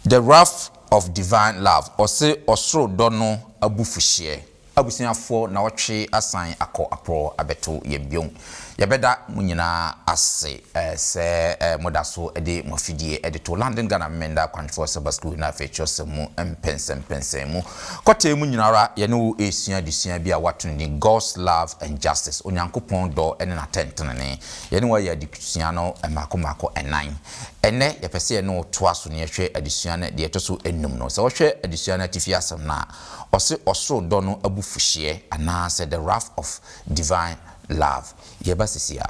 The Wrath of Divine Love, Ɔse Ɔsoro Dɔ no Abufuhyeɛ. Abusuafoɔ na wɔtwe asan akɔ aprɔ abɛto yɛn bio. Yɛbɛda mo nyinaa ase sɛ moda so de mo afidie de to London Ghana Memeneda Akwankyerɛ Sabbath School na afei Kyerɛwsɛm mu mpɛnsɛmpɛnsɛn mu. Kɔtee mu nyina ara, yɛne wo resua adesua bi a wɔato no din God's Love and Justice, Onyankopɔn Dɔ ne N'atɛntenenee. Yɛne wo ayɛ adesua no mmaako mmaako nnan. Ɛnnɛ, yɛpɛ sɛ yɛne wo toa so na yɛhwɛ adesua no deɛ ɛtɔ so nnum no. Sɛ wohwɛ adesua no atifi asɛm no a, ɔse ɔsoro dɔ no abufuhyeɛ anaasɛ the wrath of divine love. Yɛba sisi a.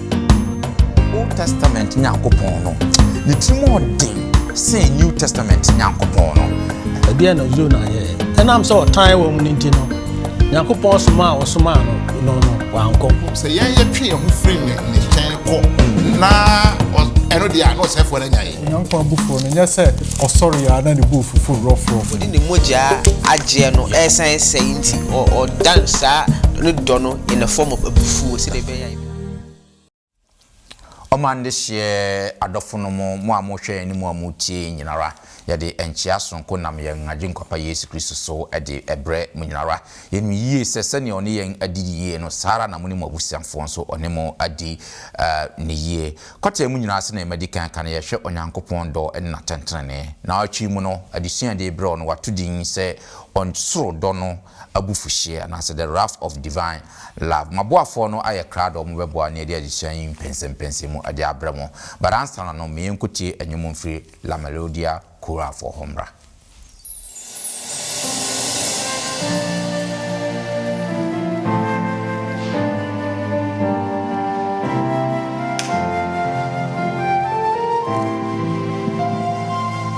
Old Testament Nyankopɔn no, ne tirim yɛ den sen New Testament Nyankopɔn no. Ɛdeɛn na Yona yɛɛ? Ɛnam sɛ ɔtan wɔ mu no nti no, Nyankopɔn somaa a ɔsomaa no no, wankɔ. Sɛ yɛn yɛtwe yɛn ho firi ne ne nkyɛn kɔ na ɛno deɛ a na ɔsɛefoɔ no anya yɛn. Onyankopɔn abufuo no nyɛ sɛ ɔsɔre ara na ne bo fufu rɔfrɔfo. Ɔde ne mogya agyeɛ no ɛresan sɛe nti, ɔdan saa ne dɔ no in the form of abufuo sɛdeɛ ɛbɛyɛ a. Ɔma nde hyeɛ adɔfo no mo, mo a mohwɛ yɛn ne mo a motie yɛn nyinara. Yɛde nkyea sononko nam yɛn Agyenkwa-pa Yesu Kristo so de brɛ mo nyinara. Yɛnim yie sɛ sɛdeɛ Ɔne yɛn adi yie no, saa ara na mo ne mo abusuafoɔ nso Ɔne mo adi no yie. Kɔtɛɛ mu nyinaa sɛdeɛ madi kan aka no, yɛhwɛ Onyankopɔn dɔ ne n'atɛntenenee. Naawɔtwe yi mu no, adesua a yɛde rebrɛ wo no, wɔato din sɛ Ɔsoro Dɔ no, abufuhyeɛ anaasɛ the wrath of divine love. M'aboafoɔ no ayɛ krado, wɔbɛboa ne ɛde adesua yi mpɛnsɛmpɛnsɛm mu de abrɛ mo. But ansana no, me yɛnkɔtie nnwom mfiri La Melodia Choral foɔ hɔ mmra.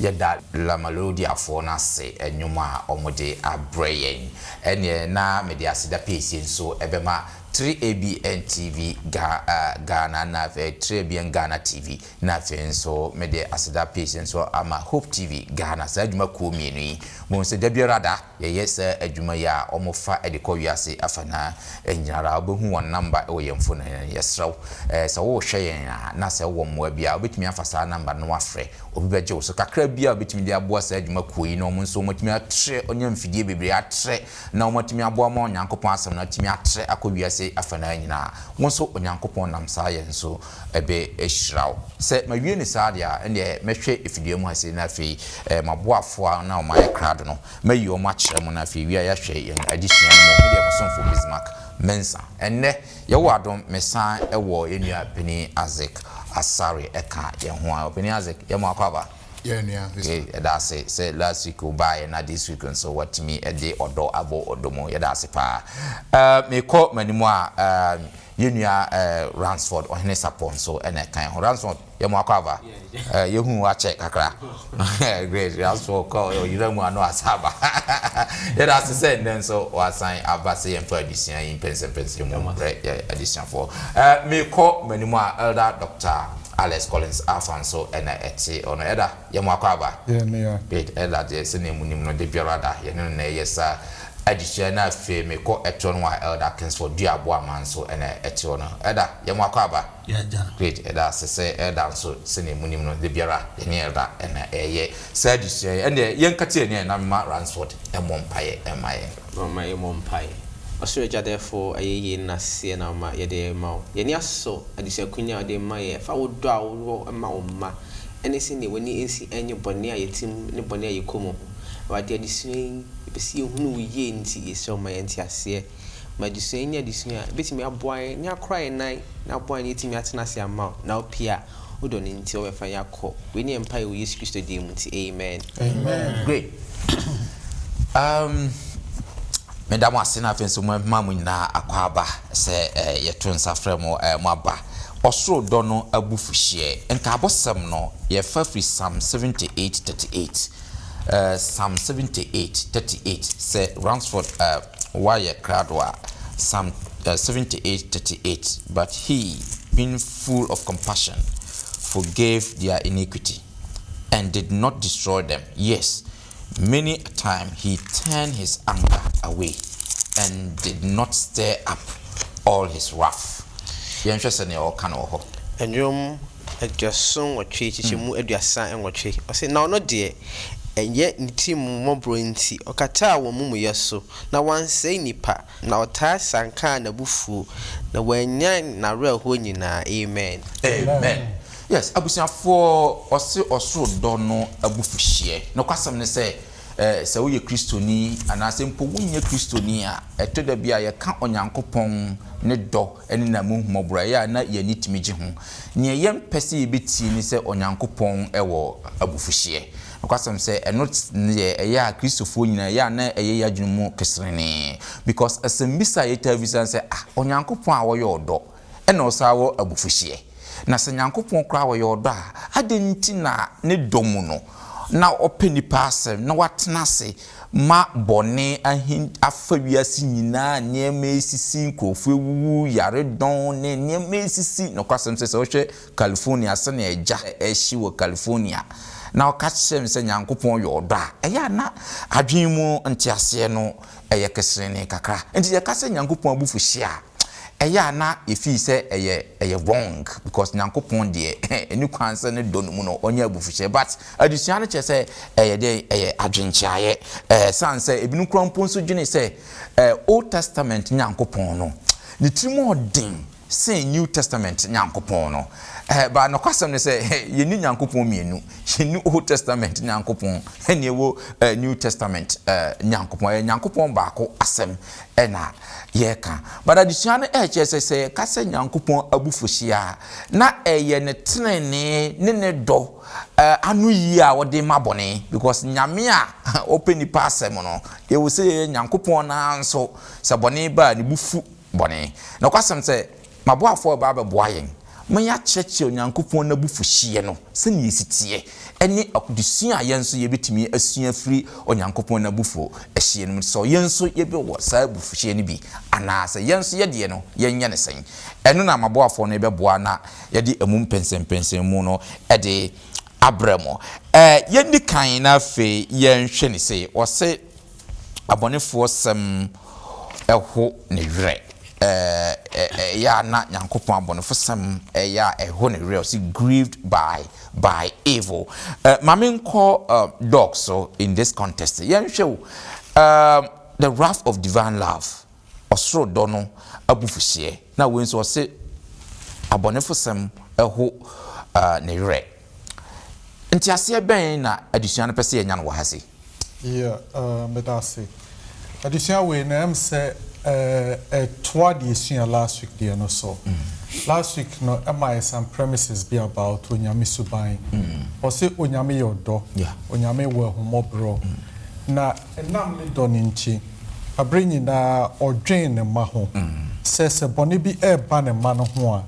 Yɛda La Melodiafoɔ no ase nnwom a wɔde abrɛ yɛn. Ɛnneɛ na mede aseda piesie nso bɛma 3ABN TV Ga ah Ghana na afei 3ABN Ghana TV na afei nso mede aseda piesie nso ama Hope TV Ghana. Saa adwumakuo mmienu yi, mohu sɛ da biara da, Yɛyɛ saa adwuma yi a wɔfa de kɔ wiase afanaa nyinara. Wobɛhu wɔn namba wɔ yɛn mfoni no. Yɛsrɛ wo sɛ worehwɛ yɛn a na sɛ wowɔ mmoa bi a wobɛtumi afa saa namba no na woafrɛ. Obi bɛgye wo so. Kakra biara a wobɛtumi de aboa saa adwuma kuo yi na wɔn nso wɔatumi atrɛ, wɔanya mfidie bebree atrɛ na wɔatumi aboa ma Onyankopɔn asɛm no atumi atrɛ akɔ wiase afanaa nyinaa. Wo nso Onyankopɔn nam saa yɛn so ɛbɛ hyira wo. Sɛ ma wie no saa deɛ a, ɛndeɛ mɛ hwɛ ɛfidua mu ha sei na afei ɛɛ ma boa foa na wɔn ayɛ krado no mɛ yi wɔn akyerɛ mo na afei wie a yɛ ahwɛ yɛn ade sua no mu. Me deɛ mo somfo Bismark Mensah. Ɛnnɛ, yɛ wɔ adom me san wɔ yɛ nua panin Isaac Asare ɛka yɛn ho a. Ɔpanin Isaac, yɛ mo akɔ aba. Yɛ nua Bismark. Yɛ yɛda ase sɛ last week wo baa yɛ na this week nso wa tumi ɛde ɔdɔ abɔ ɔdɔ mu. Yɛda ase paa. Ɛɛ, me kɔ m'anim a, ɛɛ. Yɛn nua Ransford, Ɔhene Sapon nso na ɛkan ho. Ransford, yɛ mo akɔ aba? Eh, yɛhuu wo akyɛ kakra. Great, Ransford kɔ ɔyera mu a na wasan aba. Yɛda ase sɛ nnɛ nso wasan aba sɛ yɛmfa adesua yi mpɛnsɛmpɛnsɛm mu mbrɛ yɛn adesuafoɔ. Eh, meekɔ m'anim a Elder Doctor Alex Collins Arthur nso na ɛte hɔ no. Elder. Yɛn mu akwaaba, Bed Ella deɛ sɛnea mo nim no da biara da yɛne no na ɛyɛ saa. Adesua no afei me kɔ ɛtorɔ no a Elder Kingsford dua aboa ma nso na ɛtorɔ no. Ɛda yɛn mo akwaaba, Bed Ɛda ase sɛ Elder nso sɛnea mo nim no da biara yɛne Elder na ɛyɛ saa adesua yi. Ɛndeɛ yɛn ka tie neɛ na me ma Ransford mmɔ mpaeɛ mma yɛn. Momma yɛn mmɔ mpaeɛ. Ɔsoro Agya dɛɛfo ɛyɛ yei no naseɛ na ma yɛde rema wo. Yɛn ani asɔ adesua kunya a wode rema yɛn ɛfa wo dɔ a wo wɔ ma wo mma. ɛne sɛdeɛ w'ani nsi nyɛ bɔne a yɛte mu ne bɔne a yɛkɔ mu ho. Awurade, adesua yi, yɛpɛ sɛ yɛhunu wo yie nti, yɛsrɛ wo ma yɛn nteaseɛ. Ma adesua yi nyɛ adesua a ɛbɛtumi aboa yɛn ne akora yɛn nan na aboa yɛn yɛatumi atena ase ama wo na wo pie a wo dɔ no nti wobɛfa yɛn akɔ. Wei ne yɛn mpaeɛ wɔ Yesu Kristo din mu nti, amen. Great. Um, meda mo ase na afei nso mo ma mo nyinaa akɔ aba sɛ eh, yɛto nsa frɛ mo eh, mo aba. ɔsoro dɔ no abufuhyeɛ. Nkaabɔsɛm no, yɛfa firi Psalm 78, 38, eh, Psalm 78, 38, sɛ Ransford eh, woayɛ krado a, Psalm eh, 78, 38, But he, being full of compassion, forgave their iniquity, and did not destroy them. Yes, Many a time he turned his anger away and did not stir up all his wrath. Yɛnhwɛ sɛnea ɔka no wɔ hɔ. Nnwom aduɔson nwɔtwe, nkyekyɛmu aduasa nwɔtwe. Ɔse, Na ɔno deɛ, ɛnyɛ ne tirim mmɔborɔ nti, ɔkataa wɔn amumuyɛ so, na wansɛe nnipa, na ɔtaa siankaa n'abufuo, na wannyan n'awerɛhoɔ nyinaa. Amen. Amen. Yes abusuafoɔ ɔse ɔsoro dɔ no abufuhyeɛ nokwasɛm ne sɛ sɛ woyɛ kristoni anaasɛ mpo wonyɛ kristoni a ɛtɔ da bi a yɛka Onyankopɔn ne dɔ ne n'amuhumɔborɔ a ɛyɛ a na yɛn ani tumi gye ho neɛ yɛmpɛ sɛ yɛbɛtie ne sɛ Onyankopɔn wɔ abufuhyeɛ nokwasɛm sɛ ɛno neɛ ɛyɛ a kristofoɔ nyina ɛyɛ a na ɛyɛ yɛn adwene mu keserenee because asɛmbisa a yɛtaa bisa ne sɛ ah Onyankopɔn a ɔyɛ ɔdɔ na ɔsan wɔ abufuhyeɛ. Na sɛ Nyankopɔn koraa ɔyɛ ɔdɔ a, adɛn nti na ne dɔ mu no na ɔpɛ nnipa asɛm na watena ase ma bɔne ahin afa wiase nyinaa, nneɛma resisi, nkurɔfoɔ awuwu, yaredɔn ne nneɛma resisi. Nokwasɛm sɛ, sɛ wohwɛ California, sɛnea agya rehye wɔ California, na ɔka kyerɛ me sɛ Nyankopɔn yɛ ɔdɔ a, ɛyɛ a na adwene mu nteaseɛ no yɛ keserenee kakra. Enti yɛka sɛ Nyankopɔn abufuhyeɛ a, ɛyɛ a na yɛfii sɛ ɛyɛ ɛyɛ wrong because Nyankopɔn deɛ ɛni kwan sɛ ne dɔ no mu no ɔnyɛ abufuhyɛ but adesua no kyerɛ sɛ ɛyɛ dɛ ɛyɛ adwenkyeaeɛ ɛɛ san sɛ ebinom kora mpo nso dwene sɛ ɛɛ Old Testament Nyankopɔn no ne tiri mu ɔden sen New Testament Nyankopɔn no ɛɛ ba nokwasɛm no sɛ yɛni Nyankopɔn mmienu yɛni Old Testament Nyankopɔn ɛne ɛwɔ ɛɛ New Testament ɛɛ Nyankopɔn ɛyɛ Nyankopɔn baako asɛm na yɛreka. But adesua no ɛrekyerɛ sɛ sɛ yɛka sɛ Nyankopɔn abufuhyia a, na ɛyɛ ne trenee ne ne dɔ ano yie a ɔde ma bɔne. Because Nyame a ɔpɛ nnipa asɛm no, yɛwɔ sɛ yɛyɛ. Nyankopɔn no ara nso sɛ bɔne ba a ne bo fu bɔne. Nokwasɛm sɛ M'aboafoɔ reba abɛboa yɛn ma yɛakyerɛkyerɛ Onyankopɔn n'abufuhyeɛ no sɛdeɛ ɛsi teɛ, ɛne adesua a yɛn nso yɛbɛtumi asua afiri Onyankopɔn n'abufuhyeɛ no mu, sɛ yɛn nso yɛbɛwɔ saa abufuhyeɛ no bi anaa sɛ yɛn nso yɛdeɛ no yɛnyɛ no sɛn. Ɛno na m'aboafoɔ no rebɛboa na yɛde ɛmu mpɛnsɛmpɛnsɛmu no de abrɛ mo. Yɛnni kan na afei yɛnhwɛ no sei, wɔse. abɔnefoɔ sɛm ho ne werɛ. Ɛyɛ a na Nyankopɔn abɔnefo sɛm yɛ a ɛho ne werɛ. Ɔse grieved by by evil. Ma me nkɔ dɔɔkso in this context. Yɛnhwɛ o, the wrath of divine love. ɔsoro dɔ no abufuhyeɛ, na wei nso ɔse abɔnefosɛm ho ne werɛ. Nteaseɛ bɛn na adesua no pɛ sɛ yɛnya no wɔ ha se? Yeah, meda ase. Adesua wei no ɛm sɛ ɛtoa deɛ yɛsua last week deɛ no so. Last week no ɛma yɛ some premises bi about Onyame suban. Ɔse Onyame yɛ ɔdɔ, Onyame wɔ ahummɔborɔ, na Ɛnam ne dɔ no nti, bere nyinaa odwen ne mma ho, sɛ sɛ bɔne bi reba ne mma no ho a,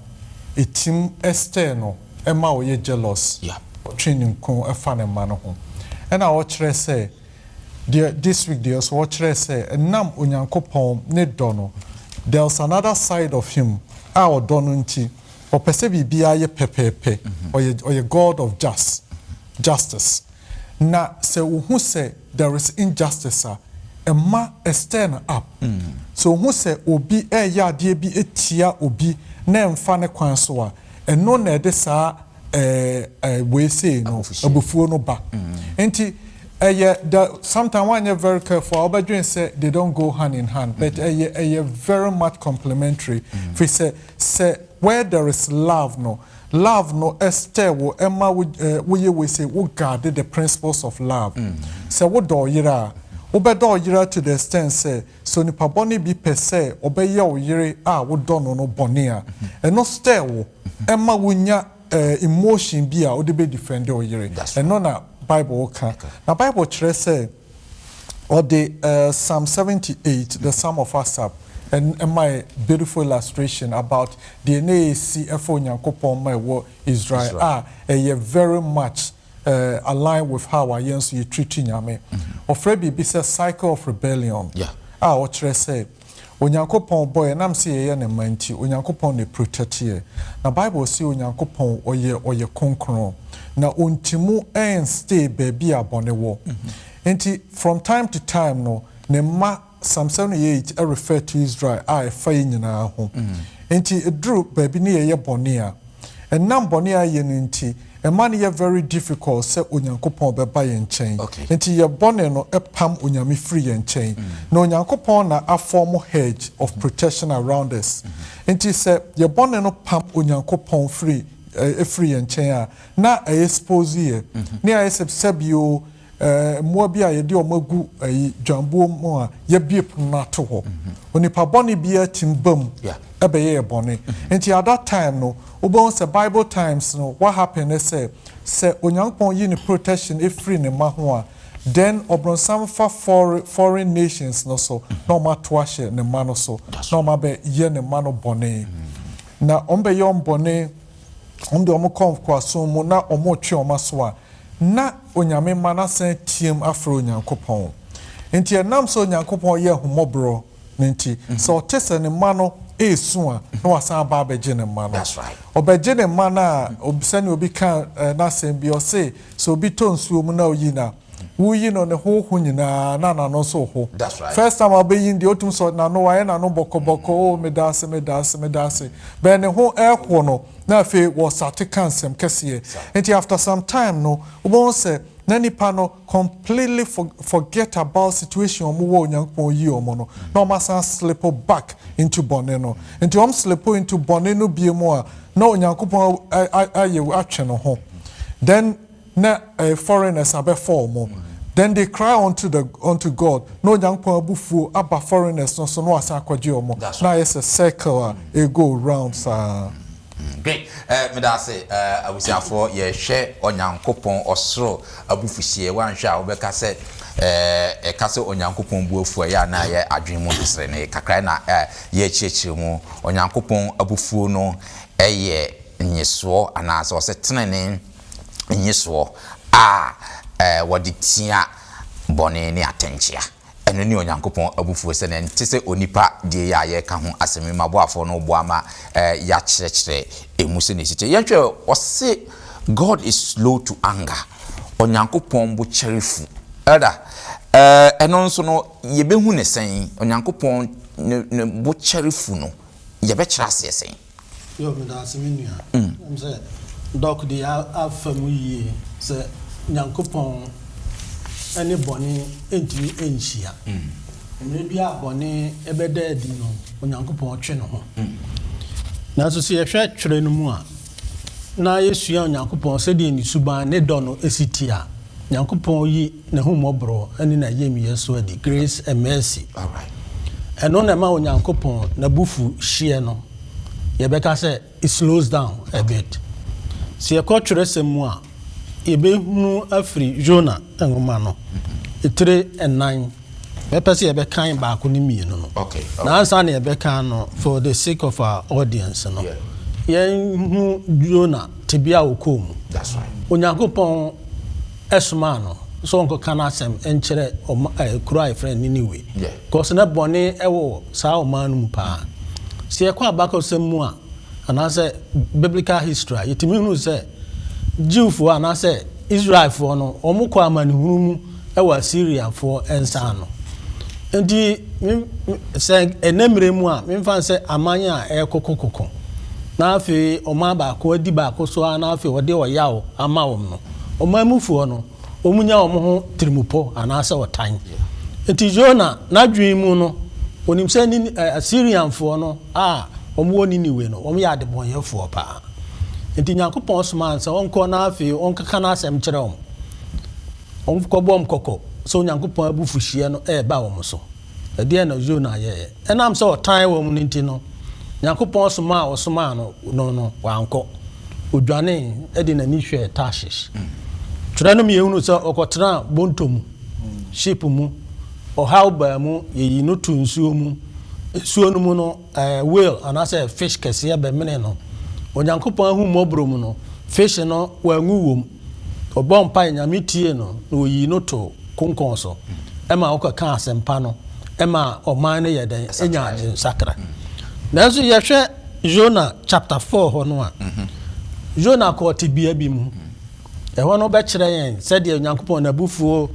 etim stir no, ɛma ɔyɛ jealous, ɔtwe ninkunu fa ne mma no ho. Ɛnna ɔkyerɛ sɛ, deɛ this week deɛ nso ɔkyerɛ sɛ, ɛnam Onyankopɔn ne dɔ no, there's another side of him a ɔdɔ no nti, ɔpɛ sɛ biribiara yɛ pɛpɛɛpɛ, ɔyɛ ɔyɛ God of just, justice. Na sɛ wohu sɛ. There is injustice a, ɛma ɛstirn up. Sɛ ohu sɛ obi reyɛ adeɛ bi tia obi na ɛmfa ne kwan so a, ɛno na ɛde saa wei sei no, abufuo no ba. Nti ɛyɛ the, sometimes woanyɛ very careful a, wobɛdwene sɛ they don't go hand in hand, but ɛyɛ ɛyɛ very much complementary, firi sɛ, sɛ where there is love no, Love no stɛ wo ma wo yɛ wei se wo guard the principles of love. Sɛ wo dɔ ɔyere a, wo bɛ dɔ ɔyere to the extent sɛ, sɛ onipa bɔne bi pɛ sɛ ɔbɛ yɛ ɔyere a wo dɔ no no bɔne a, ɛno stɛ wo ma wo nya emotion bi a wo de bɛ defend ɔyere. Ɛno na Bible ka. Na Bible kyerɛ sɛ. Ɔde Psalm seventy eight, The Psalm of Asaph, mae beautiful illustration about deɛ na ɛresi ɛfa Onyankopɔn ma ɛwɔ Israel a ɛyɛ very much align with how a yɛn nso yɛ treat Nyame. Ɔfrɛ biribi sɛ cycle of rebellion a ɔkyerɛ sɛ, Onyankopɔn bɔ yɛn nam sɛ yɛyɛ ne mma nti Onyankopɔn na protect yɛ na bible se Onyankopɔn ɔyɛ ɔyɛ kronkron na ɔntimu ɛn stay baabi a bɔne wɔ nti from time to time no ne mma Psalm 78 refer to Israel a ɛfa yɛ nyinaa ho nti ɛduru baabi ne yɛyɛ bɔne a Ɛnam bɔne a yɛyɛ no nti, ɛma no yɛ very difficult sɛ Onyankopɔn bɛba yɛn nkyɛn. Nti yɛ bɔne no pam Onyame firi yɛn nkyɛn. Na Onyankopɔn na a form hedge of protection around us. Nti sɛ yɛ bɔne no pam Onyankopɔn firi, ɛfiri yɛn nkyɛn a, na a expose yɛ. Ne ayɛ sɛ, sɛbi o, Mmoa bi a yɛde wɔn agu dwanbuo mu a yɛabue pono no ato hɔ. Onipa bɔne biara tumi ba mu bɛyɛ yɛ bɔne. Nti at that time no, wobɛhu sɛ Bible times no, what happened ne sɛ, sɛ Onyankopɔn yi ne protection firi ne mma ho a, then ɔbronsam fa foreign nations no so na wɔato ahyɛ ne mma no so na wɔabɛyɛ ne mma no bɔne. Na wɔbɛyɛ wɔn bɔne wɔn deɛ wɔn kɔ nkoasom mu na wɔn retwe wɔn aso a, na Onyame mma no asan ateam afrɛ Onyankopɔn. Enti ɛnam sɛ Onyankopɔn yɛ ahummɔborɔ no nti, sɛ ɔte sɛ ne mma no resu a, na wasan aba abɛgye ne mma no. Ɔbɛgye ne mma no a, sɛdeɛ obi kaa n'asɛm bi, ɔse, sɛ obi tɔ nsuo mu na oyi no a, Wo yi no ne ho ho nyinaa na nano nso ho. First time a ɔbɛyi no deɛ ɔtumi sɔ nano wayɛ nano bɔkɔ bɔkɔ oo meda ase meda ase meda ase. Bɛn ne ho ɛho no na afei wɔ sate ka nsɛm kɛseɛ. Nti after some time no wobɛhu sɛ na nipa no completely forget about situation ɔmo wɔ Onyankopɔn yii ɔmo no na ɔmo asan slip back into bɔne no. Nti ɔmo slip into bɔne no bie mu a na Onyankopɔn ayɛ atwe no ho then na ɛyɛ foreigners a bɛfaa ɔmo, then they cry unto the unto God, na Onyankopɔn abufuo aba foreigners no so na wasan akɔgye ɔmo, That's na right. ayɛ sɛ circle a ɛgo round saa. Great. Eh, meda ase. Eh, abusuafoɔ, yɛhwɛ Onyankopɔn ɔsoro abufuhyeɛ. Woanhwɛ a, wobɛka sɛ, eh, yɛka sɛ Onyankopɔn bu afu a, ɛyɛ a na ɛyɛ adwene mu nteserenee kakra na eh, yɛrekyerɛkyerɛ mu. Onyankopɔn abufuo no yɛ nnyesoɔ anaasɛ ɔsɛ tenenee. nnisoɔ a wɔde tia bɔne ne atɛnkyea. Ɛno ne Onyankopɔn abufuo sɛdeɛ ɛnte sɛ onipa deɛ yi a yɛreka ho asɛm yi. Ma boafoɔ no boa ma yɛakyerɛkyerɛ ɛmu sɛdeɛ ɛsi teɛ. Yɛnhwɛ, ɔse God is slow to anger, Onyankopɔn bo kyɛre fu. Elder, ɛno nso no yɛbɛhu no sɛn? Onyankopɔn ne bo kyɛre fu no yɛbɛkyerɛ aseɛ sɛn? Yoo medaase me nua ɛm sɛ doc de afa mu yie sɛ Nyankopɔn ɛne bɔne ɛntumi ɛnhyia mmerɛ bi a bɔne ɛbɛda adi no Onyankopɔn twe ne ho nanso sɛ yɛhwɛ twerɛ no mu a na yɛsua Onyankopɔn sɛdeɛ ne suban ne dɔ no ɛsi teɛ a Nyankopɔn yi n'ahummɔborɔ ne n'ayamyɛ so adi, grace and mercy. Ɛno na ɛma Onyankopɔn n'abufuhyeɛ no, yɛbɛka sɛ it slows down a bit. Sɛ yɛkɔ twerɛsɛm mu a, yɛbɛhunu afiri Yona nwoma no tire nnan, mɛpɛ sɛ yɛbɛkan baako ne mmienu no. Na ansa na yɛbɛkan no, for the sake of our audience no, yɛnhunu Yona tebea a ɔkɔɔ mu. Onyankopɔn somaa no sɛ ɔnkɔka n'asɛm nkyerɛ ɔma kuro a yɛfrɛ no Niniwe. Because na bɔne wɔ saa ɔman no mu paa. Sɛ yɛkɔ abakɔsɛm mu a, anaasɛ biblical history a, yɛtumi hunu sɛ Jewfoɔ anaasɛ Israelfoɔ no, wɔkɔɔ amanehunu mu wɔ Assyrianfoɔ nsa ano. Nti sɛ ɛnɛ mmerɛ mu a, memfa no sɛ aman a ɛrekokokoko na afei ɔman baako adi baako so ara na afei wɔde ɔyaw ama wɔn no, Ɔman mufoɔ no, wɔnya wɔn ho tirimupɔ anaasɛ ɔtan. Enti Yona n'adwene mu no, ɔnim sɛ Nini, ɛ, Asirianfoɔ no a wɔwɔ Niniwe no, wɔyɛ adebɔnyɛfoɔ paa. Enti Nyankopɔn somaa no sɛ ɔnkɔ na afei ɔnkeka n'asɛm nkyerɛ wɔn. Ɔnkɔbɔ wɔn kɔkɔ sɛ Onyankopɔn abufuhyeɛ no reba wɔn so. Ɛdeɛn na Yona yɛeɛ? Ɛnam sɛ ɔtan wɔn no nti no, Nyankopɔn somaa a ɔsomaa no no no, wankɔ. Ɔdwanee de n'ani hwɛɛ Tarshish. Twerɛ no ma yɛhunu sɛ ɔkɔtenaa bɔntɔ mu, ship mu, ɔhaw baa mu, yɛyii no too nsuo mu, nsuo no mu no, Whale anaasɛ fish kɛseɛ bɛmenee no. Onyankopɔn ahummɔborɔ mu no, fish no wanwu wom. Ɔbɔɔ mpaeɛ, Nyame tiee no, na ɔyii no too konkɔn so ma ɔkɔkaa asɛmpa no ma ɔman no yɛɛ dɛn? Ɛnyaa nsakra. Nanso yɛhwɛ Yona chapter four hɔ no a, Yona kɔɔ tebea bi mu. Ɛhɔ no bɛkyerɛ yɛn sɛdeɛ Onyankopɔn n'abufuo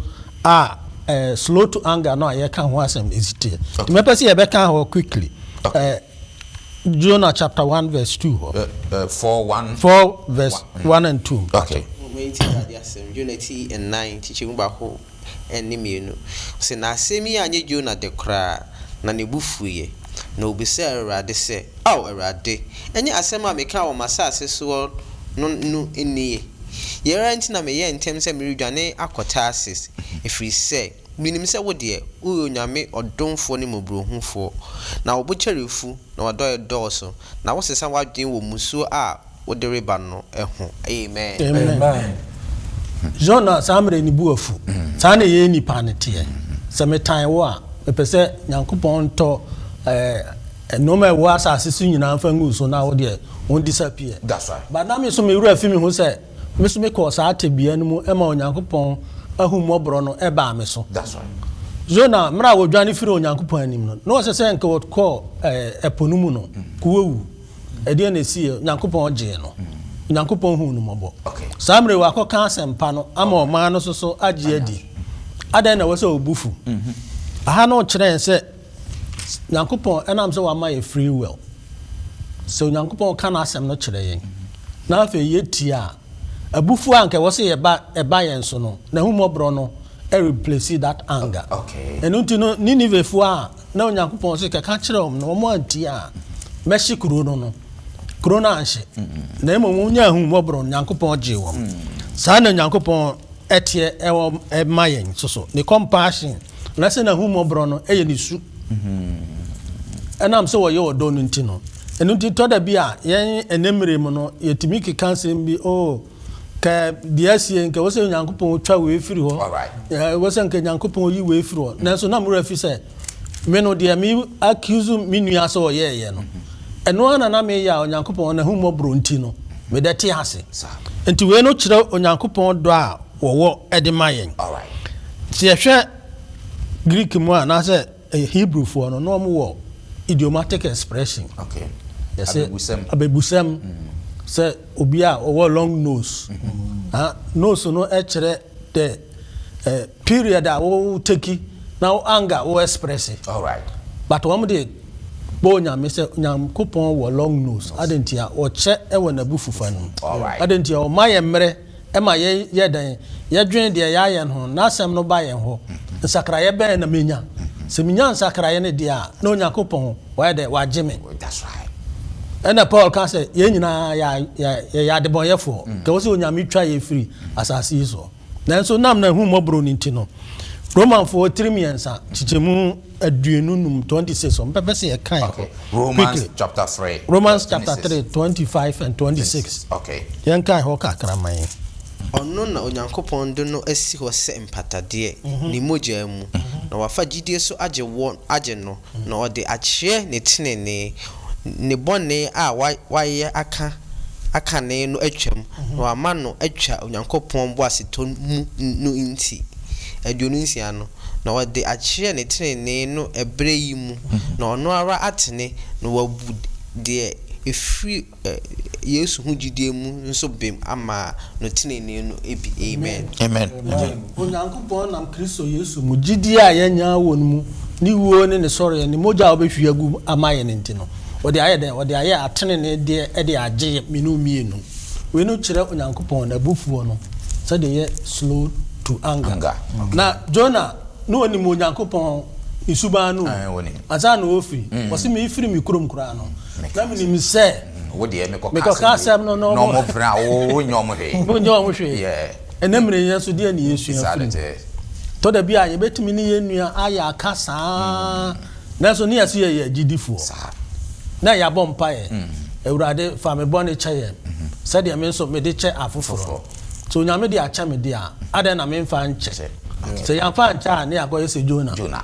a ɛɛ slow to anger no a yɛka ho asɛm esi teɛ. Nti mɛpɛ sɛ yɛbɛka hɔ quickly. Ɛɛ Jonah chapter one verse two hɔ. Ɛ ɛ four one. Four verse one and two. Okay. Wɔn eti yɛ ade asɛm. Jonah eti nnan kyekyɛ mu baako. ne mmienu. Ɔse, Na asem yi annye Jona de koraa, na ne bo fuiɛ, na ɔbisaa Awurade sɛ, Ao Awurade, ɛnyɛ asem a mekaa wɔ m'asase soɔ no no nie? Yei ara nti na meyɛɛ ntɛm sɛ meredwane akɔ Tarsis, ɛfiri sɛ menim sɛ wo deɛ, woyɛ Onyame ɔdomfoɔ ne mmɔborɔhunufoɔ, na wo bo kyɛre fu, na w'adɔeɛ dɔɔso, na wosesa w'adwene wɔ mmusuo a wode reba no ho. Amen. Amen. John a saa mmerɛ ne bo afu. Saa na yɛn nnipa no teɛ. Sɛ metan wo a, mepɛ sɛ Nyankopɔn ntɔ eh, nnoɔma a ɛwɔ asase so nyinaa mfa ngu so na wo deɛ wɔn disappear. But na me so me werɛ fi me ho sɛ me so mekɔɔ saa tebea no mu ɛma Onyankopɔn ahummɔborɔ no ɛbaa me so. Jona mmerɛ a wɔdwane firi Onyankopɔn anim no, na ɔsɛ sɛ nka wɔkɔɔ eh, ɛpo no mu no, kɔwɔwu. Ɛdeɛn na ɛsiiɛ? Onyankopɔn gyee no. Onyankopɔn huu no mmɔbɔ. Saa mmerɛ yi wakɔka asɛmpa no ama ɔman no nso agye adi. Adɛn na ɛwɔ sɛ wo bo fu? Aha no rekyerɛ yɛn sɛ Nyankopɔn ɛnam sɛ wama yɛ free will. Sɛ Onyankopɔn ka n'asɛm no kyerɛ yɛn na afei yɛtie a, abufuo a anka ɛwɔ sɛ yɛba ɛba yɛn so no, n'ahummɔborɔ no replace that anger. Ɛno nti no Ninevefoɔ a na Onyankopɔn se kɛka kyerɛ wɔn na wɔn antie a, mɛhye kuro no no. Kuro no anhye, na mmom wɔnya ahummɔborɔ, Onyankopɔn gyee wɔn. Saa na Onyankopɔn teɛ ɛwɔ ɛma yɛn nso so. Ne compassion, anase n'ahummɔborɔ no yɛ ne su. Ɛnam sɛ wɔyɛ ɔdɔ no nti no. Ɛno nti tɔ da bi a yɛn ɛnɛ mmere mu no, yɛtumi keka asɛm bi, oh, Kɛ bia sie nkɛ wosɛ Nyankopɔn twa wei firi hɔ, wosɛ nkɛ Nyankopɔn yi wei firi hɔ, mm. nanso na mo werɛ fi sɛ me no deɛ me accuse me nua sɛ ɔyɛɛyɛ no mm-hmm. ɛno ara na na meyɛ a Onyankopɔn n'ahummɔborɔ nti no medɛ te ase. Nti wei no kyerɛ Onyankopɔn dɔ a wɔwɔ de ma yɛn. Sɛ yɛhwɛ Greek mu a anaasɛ Hebrewfoɔ no na wɔwɔ idiomatic expression. Okay. Yɛsɛ abebusɛm. Abebusɛm. Mm. Sɛ obi a ɔwɔ long nose. Mm -hmm. Ah, nose no ɛkyerɛ the eh, period a wo teki na wo anger wo express. All right. But wɔn de bɔ onyame sɛ nyankopɔn wɔ long nose. Adantia ɔkyɛ ɛwɔ n'abufufa no. All right. Adantia ɔma yɛ mmerɛ. ɛma yɛyɛ dɛn? Yɛdwen deɛ yɛayɛ no ho, N'asɛm no ba yɛn hɔ. Nsakraeɛ bɛn na menya? Sɛ menya nsakraeɛ no deɛ a, na Onyankopɔn wayɛ dɛn? Wagye me. Ɛnna Paul ka sɛ, Yɛn nyinaa yɛyɛ adebɔnyɛfoɔ, nka ɛwɔ sɛ Onyame twa yɛn firi asase yi soɔ. Nanso na n'ahummɔborɔ no nti no, Romanfoɔ tirim mmiɛnsa, nkyekyɛmu. aduonu num, twenty six, ɔmpɛ pɛ sɛ yɛ kan. Okay, Romans chapter three. Romans chapter three, twenty five and twenty six. Okay. Yɛn kan hɔ kakra ma yɛn. Ɔno na Onyankopɔn de no asi hɔ sɛ mpatadeɛ, mhm. ne mogya mu, mhm. na wafa gyidie so agye wɔn agye no, mhm. na ɔde akyerɛ ne tenenee, ne bɔne a wayɛ aka akane no atwam, na wama no atwa Onyankopɔn boasetɔ mu no nti. Aduonu nsia no. na ɔde akyerɛ ne tenenee no ɛberɛ yi mu, na ɔno ara atene na wabu deɛ ɛfiri Yesu ho gyidie mu nso bem ama no tenenee no bi. Amen. Amen. Amen. Onyankopɔn nam Kristo Yesu mu gyidie a yɛanya wɔ no mu, ne wuo ne ne sɔreɛ, ne mogya a ɔbɛhwie agu ama yɛn nti no, ɔde ayɛ dɛn? Ɔde ayɛ ateneneedeɛ de agye yɛn mmienu mmienu. Wei no kyerɛ Onyankopɔn n'abufuo no sɛdeɛ ɛyɛ slow to anger. Anger. Na Jonah na ɔnim Onyankopɔn ne suban no o, Ae, wɔnim. ansa na ɔrefiri. Ɔse merefiri me kurom koraa no, na menim sɛ Wo deɛ mekɔka mekɔka asɛm asɛm no na bi na ɔmo ɔmo pere a wo wonyɛ ɔmo hwee. wonyɛ wɔn hwee. Yeah. Ɛnɛ mmerɛ yɛn nso deɛ na yɛsua Saa firi de mu. te. Tɔ da bi a yɛbɛtumi ne yɛn nua ayɛ aka saa. Nanso ne yɛse yɛyɛ agyidifoɔ Saa. na yɛabɔ mpaeɛ, Awurade, fa me bɔne kyɛ yɛn, sɛdeɛ me nso mede kyɛ afoforɔ no. Foforɔ. Sɛ Onyame de akyɛ me deɛ a, adɛn na memfa nkyɛ? Kyɛ. Akyɛ. Sɛ yɛamfa ankyɛ a, ne yɛakɔyɛ sɛ Jona. Jona.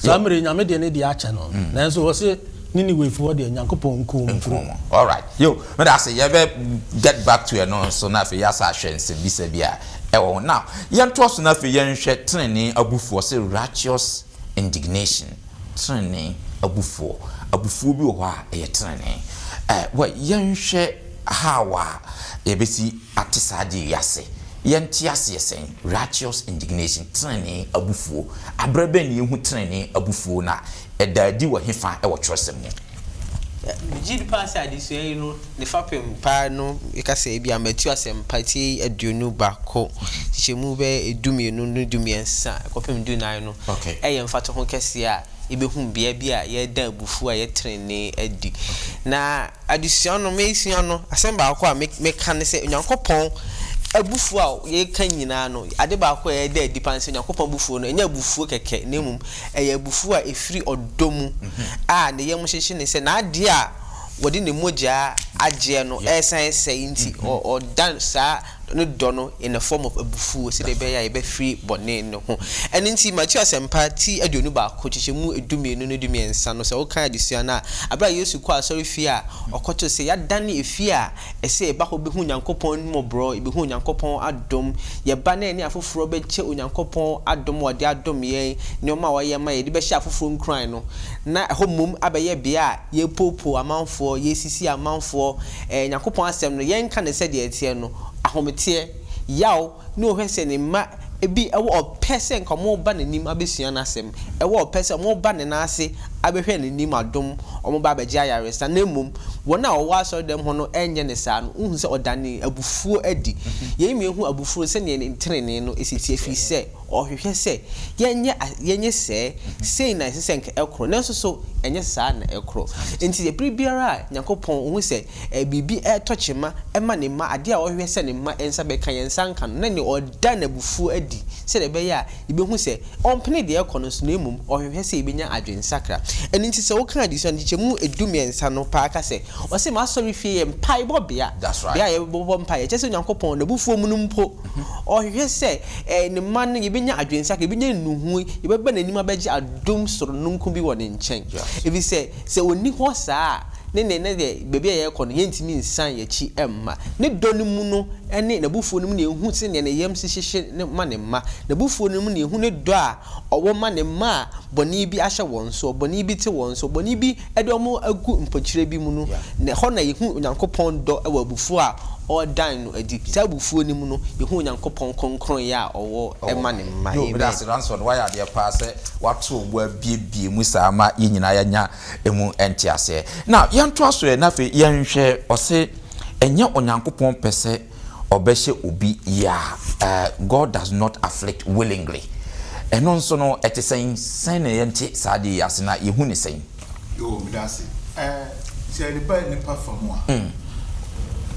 Saa Yɛ. mmerɛ yi, Nyame de ne deɛ akyɛ no, nanso ɔse Ninewefoɔ deɛ, Nyankopɔn nkuu wɔn Nkuu kuro. wɔn. Alright. Yo, meda ase. Yɛbɛ get back to ɛno nso, na afei yɛasa ahwɛ nsɛmbisa bi a ɛwɔ ho. Now, yɛntoa so na afei yɛnhwɛ tenenee abufuo, ɔse righteous. indignation, trenee abufuo, abufuo bi wɔ hɔ a ɛyɛ trenee. Ɛ, wɛ, yɛnhwɛ how a yɛbɛsi ate saa adeɛ yi ase. Yɛnte aseɛ sɛn? Righteous indignation, trenee abufuo. Aberɛ bɛn na yɛhu trenee abufuo, na ɛda adi wɔ hefa wɔ twerɛsɛm mu? Megye di paa sɛ adesua yi no ne fapem paa no mɛka sɛ ebia matu asɛmpa ti aduonu baako, nkyekyɛmu bɛyɛ du mmienu ne du mmiɛnsa kɔpem du nnan no yɛ mfatoho kɛseɛ a yɛbɛhu bea bi a yɛreda abufuo a ɛyɛ tenenee adi. Na adesua no mesua no asɛm baako a mɛka ne sɛ Onyankopɔn abufuo a yɛka nyinaa no ade baako a ɛda adi paa ne sɛ Onyankopɔn abufuo no ɛnyɛ abufuo kɛkɛ na mmom Ɛyɛ abufuw a efiri ɔdɔ mu a ne yam hyehye ne sɛ n'ade a wɔde ne mogya agyeɛ no resan resɛe nti, ɔda saa ne dɔ no in a form of abufuo sɛdeɛ ɛbɛyɛ a yɛbɛfiri bɔne no ho. Ɛno nti, Mateo Asɛmpa ti aduonu baako nkyekyɛmu du mmienu ne du mmiɛnsa no, sɛ wokan adesua no a, berɛ a Yesu kɔɔ asɔrefie a ɔkɔtoo sɛ yɛadane efie a Ɛsɛ yɛba hɔ behu Nyankopɔn ahummɔborɔ, yɛbɛhu Onyankopɔn adom, yɛba na yɛne afoforɔ bɛkyɛ Onyankopɔn adom a ɔde adom yɛn, nneɛma a wayɛ ama yɛn, de bɛhyɛ afoforɔ nkuran no, na ɛhɔ mmom abɛyɛ bea a yɛrepoopoo amanfoɔ, yɛresisi amanfoɔ, ɛɛ Nyankopɔn asɛm no, yɛnka no sɛdeɛ ɛteɛ no, ahometeɛ, yaw, na ɔhwɛ sɛ ne mma bi wɔ ɔpɛ sɛ nka wɔba n'anim abɛsua n'asɛm, wɔ ɔpɛ sɛ wɔba ne nan ase abɛhwɛ n'anim adom, wɔba abɛgye ayaresa, na mmom wɔn a wɔwɔ asɔredɛm hɔ no nyɛ no saa no, wohu sɛ ɔdanee abufuo adi. Yei ma yɛhu abufuro sɛdeɛ ne tenenee no si teɛ, ɛfiri sɛ ɔhwehwɛ sɛ yɛnyɛ yɛnyɛ sɛɛ, sei na ɛsɛ sɛ nka ɛkorɔ, nanso so ɛnyɛ saa na ɛkorɔ. Enti berɛ biara a Nyankopɔn, ɔhu sɛ. Ɛ, biribi retɔ kyema ma ne mma, ade a ɔhwehwɛ sɛ ne mma nsa bɛka, yɛn nsa nka no, na nea ɔda n'abufuo adi sɛdeɛ ɛbɛyɛ a yɛbɛhu sɛ ɔmpene deɛ ɛrekɔ no so, na mmom ɔhwehwɛ sɛ yɛbɛnya adwensakra. Ɛno nti sɛ woka adesua no nkyekyɛmu du mmiɛnsa no paa a, ka sɛ, Ɔse m'asɔrefie yɛ mpaebɔbea, bea a yɛbɛbɔ mpaeɛ. Kyerɛ sɛ Onyankopɔn, n'abufuo mu no mpo, ɔhwehwɛ sɛ ɛ, ne mma no, yɛbɛnya adwensakra, yɛbɛnya nnuhuu, yɛbɛba n'anim abɛgye adom sononko bi wɔ ne nkyɛn, ɛfiri sɛ, Sɛ ɔnni hɔ saa a, ne nne ne deɛ baabi a yɛrekɔ no, yɛrentumi nsan yɛn akyi mma. Ne dɔ no mu no ne n'abufuo no mu na yɛhu sɛdeɛ ne yam si hyehye no ma ne mma. N'abufuo no mu na yɛhu ne dɔ a ɔwɔ ma ne mma a bɔne bi ahyɛ wɔn soɔ, bɔne bi te wɔn soɔ, bɔne bi de wɔn agu mpokyerɛ bi mu no. Ɛhɔ na yɛhu Onyankopɔn dɔ wɔ abufuo a ɔredan no adi. Saa abufuo no mu no, yɛhu Onyankopɔn kronkronyɛ a ɔwɔ ma ne mma. Amen. wɔato bo abuebue mu saa ma yɛn nyinaa yɛanya emu nteaseɛ. Na yɛntoa so ɛ, na afei yɛnhwɛ, ɔse, Ɛnyɛ Onyankopɔn pɛ sɛ ɔbɛhyɛ obi ya, eh, God does not afflict willingly. Ɛno nso no, ɛte sɛn? Sɛn na yɛnte saa adeɛ yi ase na yɛhu no sɛn? Yoo meda ase ɛɛ sɛ yɛde ba nipa fa mu a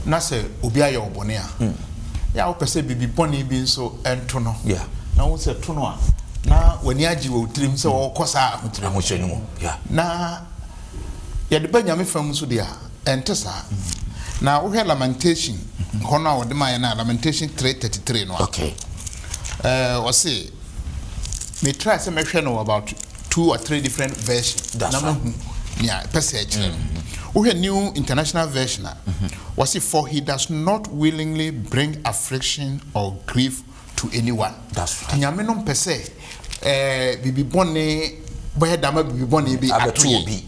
na sɛ obi ayɛ wo bɔne a yɛ a wopɛ sɛ biribi bɔne bi nso ɛnto no na wo sɛ to no a na w'ani agye wɔ tirim sɛ wɔkɔ saa ahokyerɛ ahokyerɛ no mu na yɛde ba nyame fa mu nso deɛ a ɛnte saa na wohwɛ lamentation hɔ no a wɔde ma yɛ no a lamentation 333 no a ɔse metra sɛ mɛhwɛ no about two or three different version na mahu nea ɛpɛ sɛ ɛkyerɛ no mm-hmm. wohwɛ new international version a mm-hmm. wɔse for he does not willingly bring affliction or grief to anyone nyame no mpɛ sɛ eh, biribi bɔne bɛyɛ dama biribi bɔne bi ato yɛ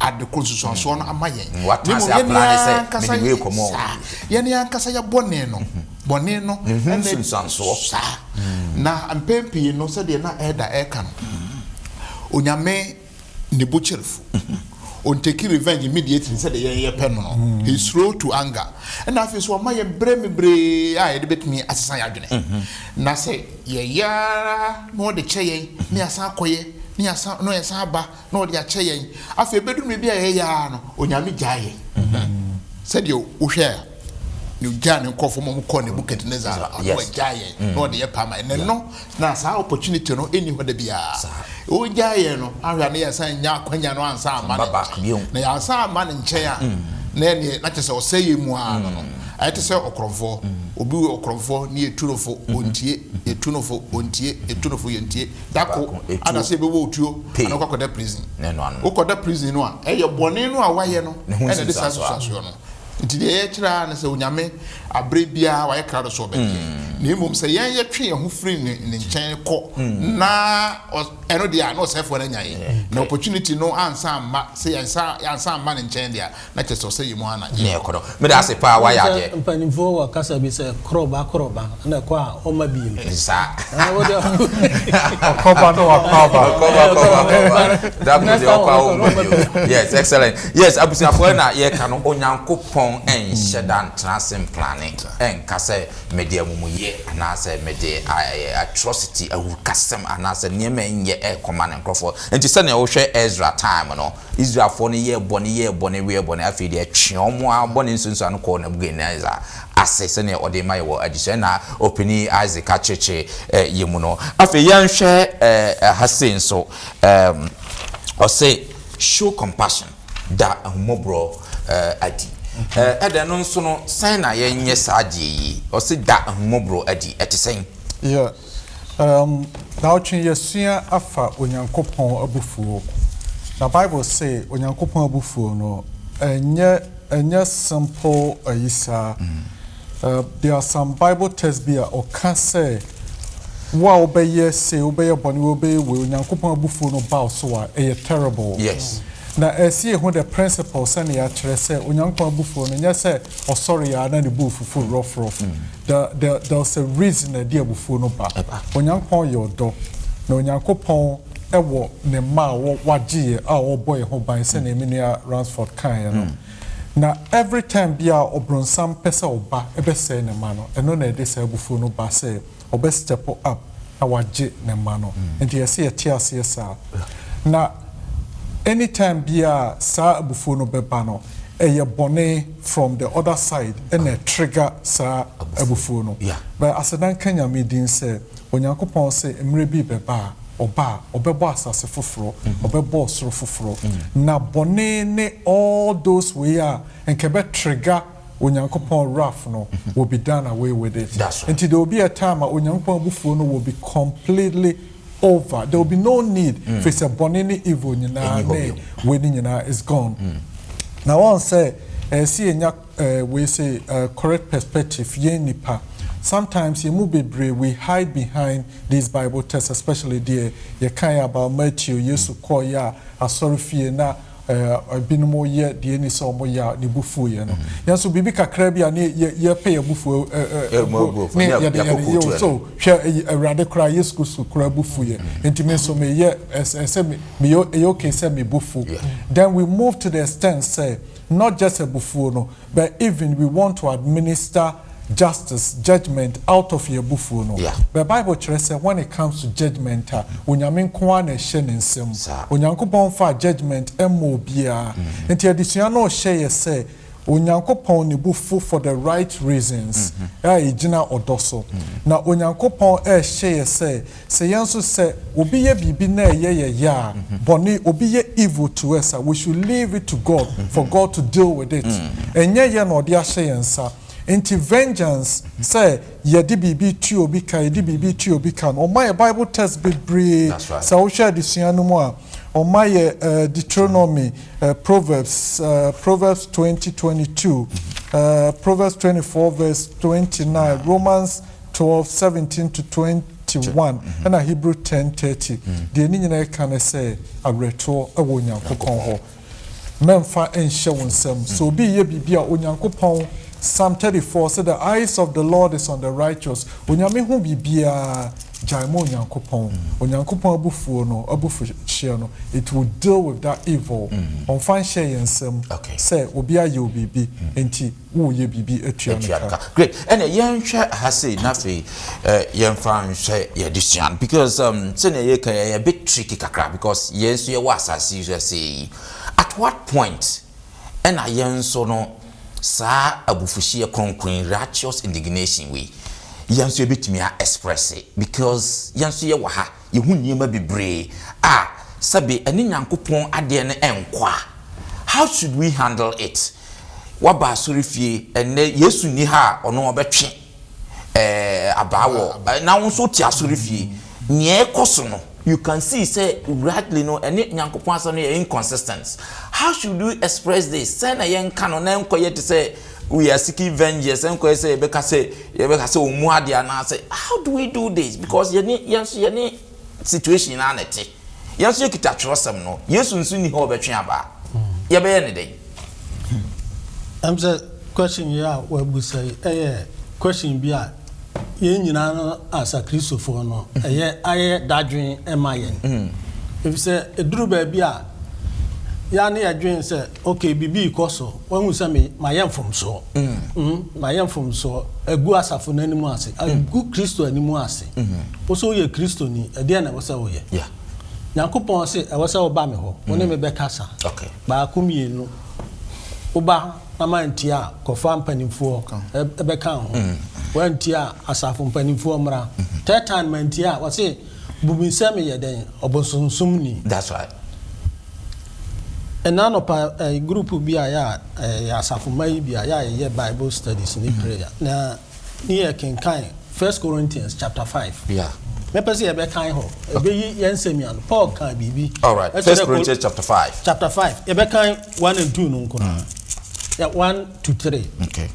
ade koro nsusuansoɔ no ama yɛn. Mm, na mmom yɛn ankasa saa yɛn ankasa yɛ bɔne no mhm. bɔne no mhm, nsusuansoɔ saa mm. na mpɛn pii no sɛdeɛ na ɛda ɛka no mm. onyame ne bo kyerɛfo ɔntaki revenge immediately sɛdeɛ yɛn yɛ pɛ no no he slow to anger ɛna afei so ɔma yɛn berɛ mebree a yɛde bɛtumi asesa yɛ adwene na sɛ yɛyɛ ara na ɔde kyɛ yɛn ne asan akɔyɛ ne yɛsan aba na ɔde akyɛ yɛn. Afei ebedu mmere bi a ɛyɛ yaa no, Onyame gyaa yɛn. Sɛdeɛ wohwɛ a, na ogyaa ne nkurɔfoɔ ma wɔkɔɔ Nebuchadnezzar no, ɔno wagyaa yɛn na ɔde yɛn paa ma yɛn. Ɛnnɛ no, na saa opportunity no nni hɔ da biara. Ogyaa yɛn no, ahwɛ a na yɛsan nya akwanya no ansan amma ne nkyɛn. Na yɛansan amma ne nkyɛn a, na ɛnneɛ na kyerɛ sɛ ɔsɛe yɛn mu ara no no. Ayɛ te sɛ ɔkorɔmfoɔ. Obi wɔ ɔkorɔmfoɔ, na yɛtu no fo, ɔntie, yɛtu no fo, ɔntie, yɛtu no fo, yɛntie. da kor ana sɛ ebɛwɔ otuo ana ɔkɔ akɔda prison. Wokɔda prison no a, ɛyɛ bɔne no a woayɛ no na ɛde saa nsusuasoɔ no. Nti deɛ yɛkyerɛ ara ne sɛ Onyame aberɛ biara wayɛ krado sɛ ɔbɛgye yɛn. Na mmom sɛ yɛn yɛtwe yɛn ho firi ne ne nkyɛn kɔ na ɛno deɛ a na ɔsɛefoɔ no anya yɛn. Na opportunity no ansa amma sɛ yɛn nsa ansa amma ne nkyɛn deɛ a, Na kyerɛ sɛ ɔsɛ yɛ mu ara na yɛkɔ no. Meda ase paa wayɛ adeɛ. Wonim sɛ mpaninfoɔ wɔ kasa bi sɛ korɔba korɔba na ɛkɔ a ɔma bio. Ɛnte saa. Ɛɛ wode Ɔkɔba na wakɔ aba. Ɔkɔba kɔba kɔba. Da koro deɛ ɔkɔ a ɔmma bio. Yes excellent. Yes abusuafoɔ ɛna yɛka no Onyankopɔn ɛnhyɛ da ntena ase mplane ɛnka sɛ mede amumuyɛ anaasɛ mede atrocity awurukasɛm anaasɛ nneɛma ɛnyɛ ɛkɔma ne nkorɔfoɔ. Nti sɛdeɛ wohwɛ Ezra time no. Israelfoɔ no yɛɛ bɔne yɛɛ bɔne weɛ bɔne, afei deɛ ɛtwee wɔn ara bɔne nsuansuan no kɔɔ Nebukadnesar ase sɛdeɛ ɔde rema yɛn wɔ adesua na Ɔpanin Isaac akyerɛkyerɛ yɛn mu no. Afei yɛnhwɛ ha sei nso, ɔse show compassion, da ahummɔborɔ adi. Ɛdɛ no nso no, sɛn na yɛnyɛ saa adeɛ yi? Ɔse da ahummɔborɔ adi, ɛte sɛn? Yeah, Daawɔtwe yɛasua afa Onyankopɔn abufuo. Na Bible se Onyankopɔn abufuo no ɛnyɛ ɛnyɛ simple ayi saa. There are some Bible text bi a ɔka sɛ wo a wobɛyɛ se wobɛyɛ bɔne wobɛyɛ wei Onyankopɔn abufuo no ba wo so a ɛyɛ terrible. Yes. Na ɛsi yɛ ho the principle sɛnea yɛakyerɛ sɛ Onyankopɔn abufuo no nyɛ sɛ ɔsɔre a na ne bo fufu rɔfrɔf. The, the, there's a reason na ɛde abufuo no ba. Onyankopɔn yɛ ɔdɔ, na Onyankopɔn wɔ ne mma a wagye yɛ a ɔbɔ yɛ ho ban sɛnea me nua Ransford kaeɛ no. Hmm. Na every time bi a ɔbronsam pɛ sɛ ɔba ɛbɛsɛe ne mma no, ɛno na ɛde saa abufuo no ba sɛ ɔbɛ step up na wagye ne mma no. Hmm. Nti yɛsɛ yɛte aseɛ saa. Na anytime bi a saa abufuo no bɛba no, ɛyɛ bɔne. from the other side ɛna ɛtrigger saa abufuo no but aseda nka Nyame din sɛ Onyankopɔn se mmerɛ bi rebɛba a ɔba a ɔbɛbɔ asase foforɔ ɔbɛbɔ ɔsoro foforɔ na bɔne ne all those wei a nka ɛbɛ trigger Onyankopɔn wrath no will be done away with it nti there will be a time a Onyankopɔn abufuo no will be completely over there will be no need mm. firi sɛ bɔne ne evil nyinaa ne wei ne nyinaa is gone mm. na wɔn sɛ ɛsi eh, enya eh, wei sɛ eh, correct perspective yɛn nipa sometimes yɛn mu bebree we hide behind these bible texts especially deɛ yɛkan about matthew yesu kɔɔ yɛ a asɔre fie na Ebinom yɛ deɛ ɛni sɛ wɔn yɛ a ne bo fuo yɛ no. Yɛn nso biribi kakra bi a ne yɛ yɛ pɛ yɛ bo fuo ɛɛ ne yɛ de yɛ yɛ so hwɛ awurade koraa Yesu Kristo koraa bo fuo yɛ. Nti me nso me yɛ ɛsɛ me me yɛ ɛyɛ okay sɛ me bo fuo. Then we move to the extent sɛ not just abufuo no. But even we want to administer justice, judgement, out of yɛn abufuo no, but Bible kyerɛ sɛ when it comes to judgement a, Onyame nko ara na ɛhyɛ ne nsa mu. Onyankopɔn mfaa judgement mmɔɔ obiara. Nti adesua no rehyɛ yɛ sɛ Onyankopɔn ne bo fu for the right reasons a ɛgyina ɔdɔ so. Na Onyankopɔn rehyɛ yɛ sɛ Sɛ yɛn nso sɛ obi yɛ biribi na ɛyɛ yɛ ya a, bɔne, obi yɛ evil to us a, we should leave it to God for God to deal with it. Ɛnyɛ yɛn na ɔde ahyɛ yɛn nsa. Nti vengeance, sɛ yɛde biribi tua obi ka, yɛde biribi tua obi ka no, wɔma yɛ Bible text bebree. Sɛ wohwɛ adesua no mu a, wɔma yɛ Deuteronomy, Proverbs, Proverbs twenty twenty two, Proverbs twenty four verse twenty nine, Romans Twelve, seventeen to twenty one ɛna Hebrew ten, thirty, deɛ ne nyinaa ɛka ne sɛ awerɛtoɔ ɛwɔ Onyankopɔn hɔ. Mɛnfa ɛnhyɛ wo nsam, sɛ obi reyɛ biribi a Onyankopɔn, Psalm thirty four, sɛ the eyes of the Lord is on the righteous, Onyame hu biribiara, gyae ma Onyankopɔn, Onyankopɔn abufuo no, abufuhyeɛ no, it will deal with that evil, ɔnfa nhyɛ yɛn nsam sɛ obi ayɛ wo biribi, enti. Woreyɛ biribi atua no ka. Great, ɛna yɛnhwɛ ha sei na afei yɛmfa nhwɛ yɛn adesua no because um, sɛnea yɛka yɛ yɛ bit tricky kakra because yɛn nso yɛwɔ asase yi so ɛsɛ yi. At what point ɛna yɛn nso no saa abufuhyeɛ kronkron righteous indignation wei yɛn nso yɛbɛtumi a express because yɛn nso yɛwɔ ha. Yehu nneɛma bebree a sɛbe ɛne Nyankopɔn adeɛ no nkɔ a, how should we handle it? Waba asɔrefie, ɛnnɛ Yesu nni ha a ɔno ɔbɛtwe eh, abaa wɔ, na wo nso wote asɔrefie, nea ɛrekɔ so no, you can see sɛ rightly no ɛne Nyankopɔn asɛm no yɛ inconsistent. How should we express this? Sɛn na yɛnka no na ɛnkɔyɛ te sɛ we are seeking vengeance, ɛnkɔyɛ sɛ yɛbɛka sɛ Yɛbɛka sɛ ɔmmu adeɛ anaasɛ how do we do this because yɛne yɛn nso yɛne situation no ara na ɛte. Yɛn nso yɛkita twerɛsɛm no. Yesu nso nni hɔ a ɔbɛtwe aba a, yɛbɛyɛ no dɛn? Ɛm sɛ question yi a woabusa yi ɛyɛ question bi a yɛn nyinaa no as Akristofoɔ no ɛyɛ ayɛ dadwen ma yɛn. Ɛfiri sɛ ɛduru baabi a yɛa ne yɛdwene sɛ ok biribi rekɔ so, wahu sɛ me, mayɛ mfomsoɔ, mm, mayɛ mfomsoɔ, agu asafo no anim ase, agu Kristo anim ase. Wo so woyɛ Kristoni, ɛdeɛ na ɛwɔ sɛ woyɛ. Yeah. Nyankopɔn se, ɛwɔ sɛ woba me hɔ, wo ne me bɛkasa. Okay. Baako mmienu, woba na mantie a, kɔfa mpanimfoɔ ɛ- ɛbɛka ho. Wantie a, asafo mpanimfoɔ mmra. Third time mantie a, wɔse, Bu me sɛ meyɛ dɛn? Ɔbosonsomni. That's right. Ɛna anɔpa ɛɛ group bi a yɛ a ɛɛ yɛ asafomma yi bi a yɛ a yɛyɛ bible studies ne prayer na ne yɛ kenkan First Corinthians chapter five. Yeah. Mɛpɛ sɛ yɛbɛkan hɔ. Ɛbɛyi yɛn nsɛm yi ano. Paul kan biribi. All right. Ɛkyerɛ First kɔ- Corinthians chapter five. Chapter five. Yɛbɛkan one and two no nko na. Yeah, one to three. Okay.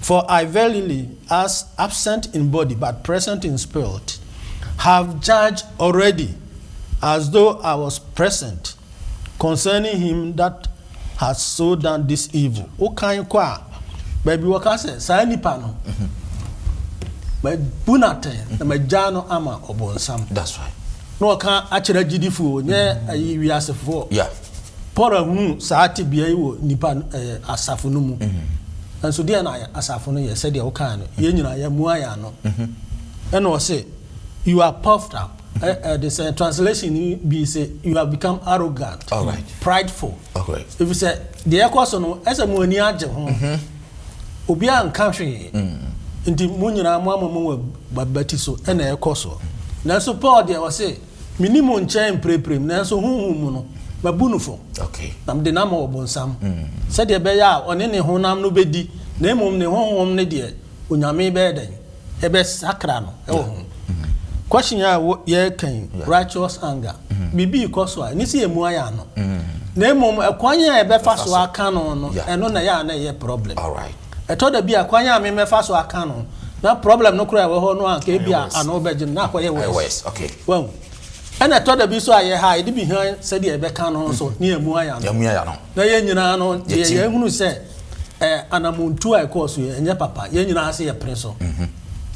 For I verily, as absent in body, but present in spirit, have judged already, as though I was present, concerning him that hath so done this evil. Wokan kɔ a, baabi wɔka sɛ saa nipa no, mabu no atɛn na magyaa no ama ɔbonsam. That's right. Na wɔka akyerɛ agyidifoɔ, nyɛ ayi wiasefoɔ. Yeah. Paul hunu saa tebea yi wɔ nnipa asafo no mu. Nanso deɛ na asafo no yɛ sɛdeɛ wokaa no, yɛn nyinaa yɛamua yɛn ano. Ɛna ɔse, You are puffed up. Ɛde sɛ translation bi se, You have become arrogant, prideful. Ɛfiri sɛ deɛ ɛkɔ so no, ɛsɛ mo ani agye ho. Obiara nka hwee. Nti mo nyinaa moama mo abati so. Ɛna ɛkɔ so. Nanso Paul deɛ ɔse. Menni mo nkyɛn mprempren, nanso honhom mu no, mabu no fɔ, na mede no ama ɔbonsam, mm. sɛdeɛ ɛbɛyɛ a ɔne ne honam no bɛdi, na mmom ne honhom ne deɛ Onyame bɛyɛ dɛn? Ɛbɛsakra no wɔ ho. Mm. Question a yɛreka yi, righteous anger, mm. biribi rekɔ so a, ɛne sɛ yɛmu ayɛ ano. Na mmom, ɛkwan a ɛbɛfa so aka no no, ɛno na ɛyɛ a na ɛyɛ problem. All right. Ɛtɔ da bi a kwan a memɛfa so aka no na problem no koraa ɛwɔ hɔ no anka ebi a ano bɛgye no na akɔyɛ worse. Wahu? Ɛna ɛtɔ da bi nso a yɛ ha a yɛde bi han sɛdeɛ yɛbɛka no nso na yɛamua yɛ ano. Na yɛn nyinaa no deɛ yɛahunu sɛ ɛɛ anamontuo a ɛkɔɔ so yi ɛnyɛ papa. Yɛn nyinaa se yɛpene so.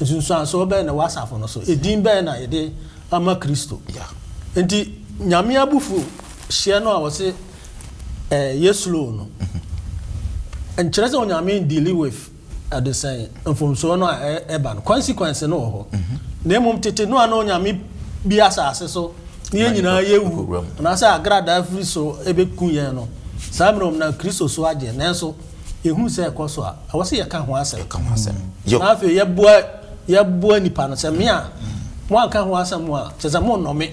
Nsunsuansoɔ bɛn na ɛwɔ asafo no so? Edin bɛn na yɛde ama Kristo? Nti Nyame abufuo hyeɛ no a wɔse. ɛyɛ eh, slow no nkyerɛ sɛ onyame dealing with ɛde sɛn mfomsoɔ no a ɛba no consequence no wɔ hɔ na mmom tete no a na onyame bi asase so ne yɛn nyinaa yɛwu anaasɛ agradaa firi so ɛbɛku yɛn no saa mmerɛ ɔm na kristo so agye nanso yɛhunu sɛ ɛkɔ so a ɛwɔ sɛ yɛka ho asɛm na afei yɛboa yɛboa nipa no sɛ me a mo anka ho asɛm a kyɛ sɛ mo nnɔ me